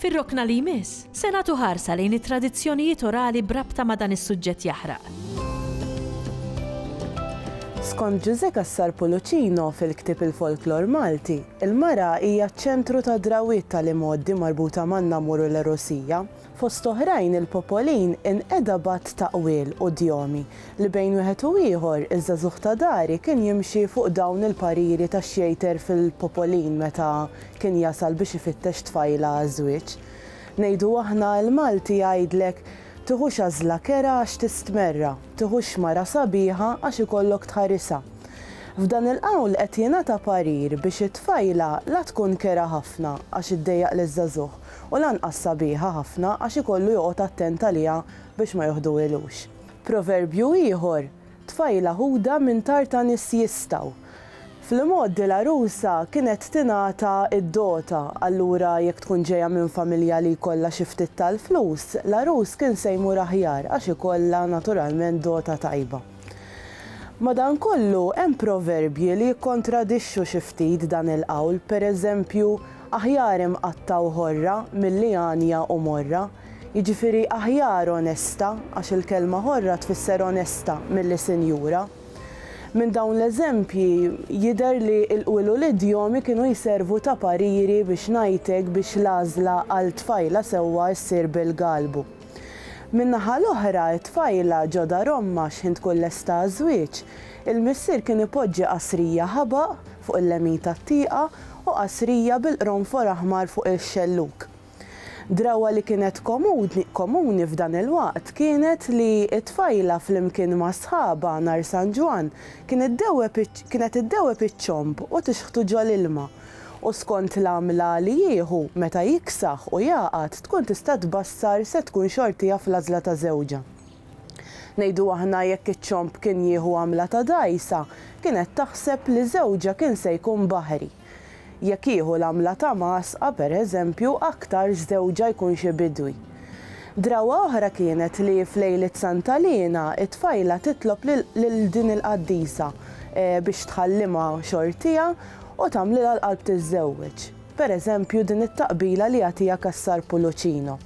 Fir-rokna li jmiss, se nagħtu ħarsa lejn it-tradizzjonijiet orali b'rabta ma' dan is-suġġett jaħraq. Skont Ġużè Cassar Pulucino fil-ktieb Il-Folklor Malti, il-mara hija ċ-ċentru tad-drawwiet tal-imgħoddi marbuta man-namur u l-għerusija. Fost oħrajn, il-popolin inqeda b'għadd ta' qwiel u djomi li bejn wieħed u ieħor, iż-żagħżugħ ta' dari kien jimxi fuq dawn il-pariri ta' xjejter fil-popolin meta kien jasal biex ifittex tfajla għaż-żwieġ. Ngħidu aħna, il-Malti jgħidlek, tiħux għażla kerha għax tistmerra, tiħux mara sabiħa għax ikollok tħarisha. F'dan il-qawl qed jingħata parir biex it-tfajla la tkun kerha ħafna għax iddejjaq liż-żagħżugħ u lanqas sabiħa ħafna għax ikollu joqgħod attent għaliha biex ma joħduhilux. Proverbju ieħor, Tfajla Ħuda minn Tartanis Jistgħu. Fl-imgħoddi l-għarusa kienet tingħata d-dota, allura jekk tkun ġejja minn familja li jkollha xi ftit tal-flus, l-għarus kien se jmur aħjar għax ikollha naturalment dota tajba. Madankollu, hemm proverbji li jikkontradixxu xi ftit dan il-qawl, pereżempju, Aħjar imqatta' u ħorra milli għanja u morra. Jiġifieri aħjar onesta, għax il-kelma ħorra tfisser onesta milli sinjura. Minn dawn l-eżempji jidher li l-qwiel u l-idjomi kienu jservu ta' pariri biex ngħidlek biex l-għażla għal tfajla sewwa ssir bil-galbu. Min-naħa l-oħra, it-tfajla ġo dar ommha x'ħin tkun lesta għaż-żwieġ, il-missier kien ipoġġi qasrija ħabaq fuq il-lemin tat-tieqa u qasrija bil-qronfor aħmar fuq ix-xellug. Drawwa li kienet komuni f'dan il-waqt kienet li t-tfajla flimkien ma' sħabha nhar San Ġwann kienet iddewweb iċ-ċomb u tixħtu ġol-ilma u skont l-għamla li jieħu meta jiksaħ u jagħqad tkun tista' tbassar se tkun xortija fl-għażla ta' żewġha. Ngħidu aħna jekk iċ-ċomb kien jieħu għamla ta' dgħajsa kienet taħseb li żewġha kien se jkun baħri. Jekk jieħu l-għamla ta' mgħasqa, per eżempju, aktarx żewġha jkun xi bidwi. Drawwa oħra kienet li f'lejliet Santa Liena t-tfajla titlob lil din il-qaddisa biex tħallimha xortiha u tagħmlilha l-qalb tiżżewweġ, per eżempju din it-taqbila li jagħtiha Cassar Pulucino.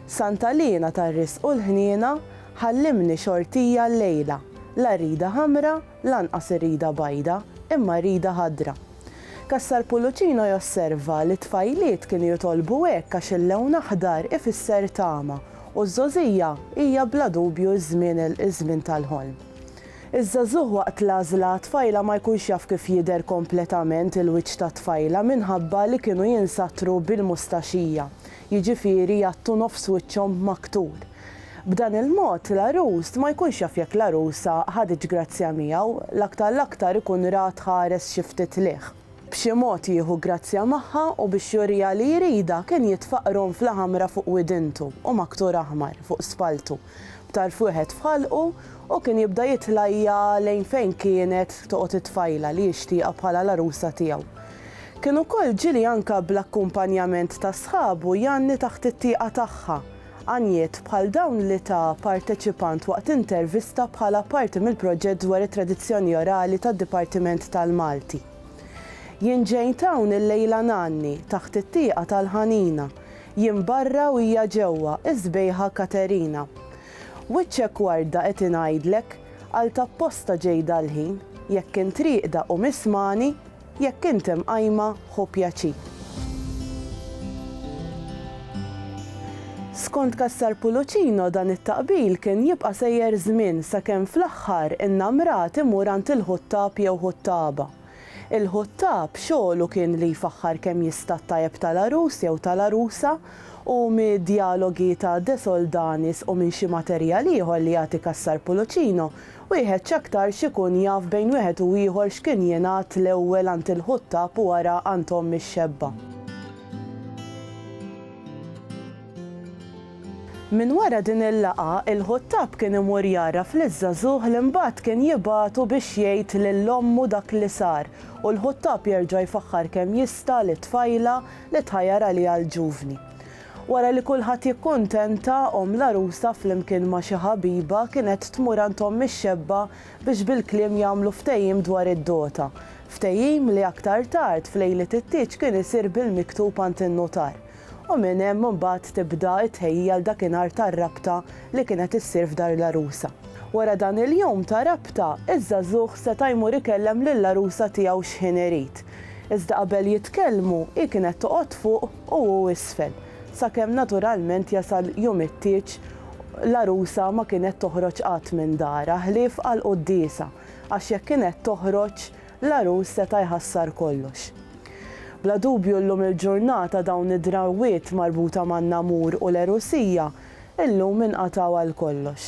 Santa Liena tar-Risq u l-Ħniena, Ħallimni xortija llejla, la rida ħamra, Lanqas irridha bajda, imma rridha ħadra. Cassar-Pullucino josserva li t-tfajliet kienu jitolbu hekk għax il-lewn aħdar ifisser tama u ż-żgħożija hija bla dubju ż-żmien iż-żmien tal-ħolm. Iż-żagħżugħ waqt l-għażla għat-tfajla ma jkunx jaf kif jidher kompletament il-wiċċ tat-tfajla minħabba li kienu jinsattru bil-mustaxija, jiġifieri jgħattu nofs wiċċhom b'maktur. B'dan il-mod, l-għarus ma jkunx jaf jekk l-għarusa ħaditx grazzja miegħu, l-aktar l-aktar ikun ra tħares xi ftit lejh. B'xi mod jieħu grazzja magħha u biex juriha li jridha kien jitfa' qronfla ħamra fuq widintu u maktur aħmar fuq spalltu b'tarf wieħed f'ħalqu u kien jibda jitlajja' lejn fejn kienet toqgħod it-tfajla li jixtieqha bħala l-għarusa tiegħu. Kien ukoll ġieli anke bl-akkumpanjament ta' sħabu jgħanni taħt it-tieqa tagħha Għanjiet bħal dawn li ta parteċipant waqt intervista bħala parti mill-proġett dwar it-tradizzjoni orali tad-Dipartiment tal-Malti. Jien ġejt hawn illejla ngħanni taħt it-tieqa tal-ħanina, jien barra u hija ġewwa, is-sbejħa Katerina. Wiċċek warda qed ingħidlek, għalt apposta ġej dal-ħin, jekk int rieqda qum ismagħni, Jekk int imqajma, ħu pjaċir. Skont Cassar Pulucino dan it-taqbil kien jibqa' sejjer żmien sakemm fl-aħħar innamrat imur għand il-ħuttab jew ħuttaba. Il-ħuttab xogħlu kien li jfaħħar kemm jista' t-tajjeb tal-għarus jew tal-għarusa u mid-djalogi ta' De Soldanis u minn xi materjal ieħor li jagħti Cassar Pulucino Wieħed x'aktarx ikun jaf bejn wieħed u ieħor x'kien jingħad l-ewwel għand il-ħuttab u wara għand omm ix-xebba. Minn wara din il-laqgħa, il-ħuttab kien imur jgħarraf liż-żagħżugħ li mbagħad kien jibagħtu biex jgħid lil ommu dak li sar u l-ħuttab jerġa' jfaħħar kemm jista' lit-tfajla li tħajjar għaliha l-ġuvni. Wara li kulħadd jikkuntenta, omm l-għarusa flimkien ma' xi ħabiba kienet tmur għand omm ix-xebba biex bil-kliem jagħmlu ftehim dwar id-dota. Ftehim li aktar tard f'lejliet it-tieġ kien isir bil-miktub għand in-nutar. U minn hemm imbagħad tibda t-tħejjija għal dakinhar tar-rabta li kienet issir f'dar l-għarusa. Wara dan il-jum ta' rabta, iż-żagħżugħ seta' jmur ikellem lill-għarusa tiegħu x'ħin irid. Iżda qabel jitkellmu, hi kienet toqgħod fuq u hu isfel, sakemm naturalment jasal jum it-tieġ l-għarusa ma kienet toħroġ qatt minn darha ħlief għall-quddiesa għax jekk kienet toħroġ, l-għarus seta' jħassar kollox. Bla dubju llum il-ġurnata dawn id-drawwiet marbuta man-namur u l-għerusija llum inqatgħu għal kollox.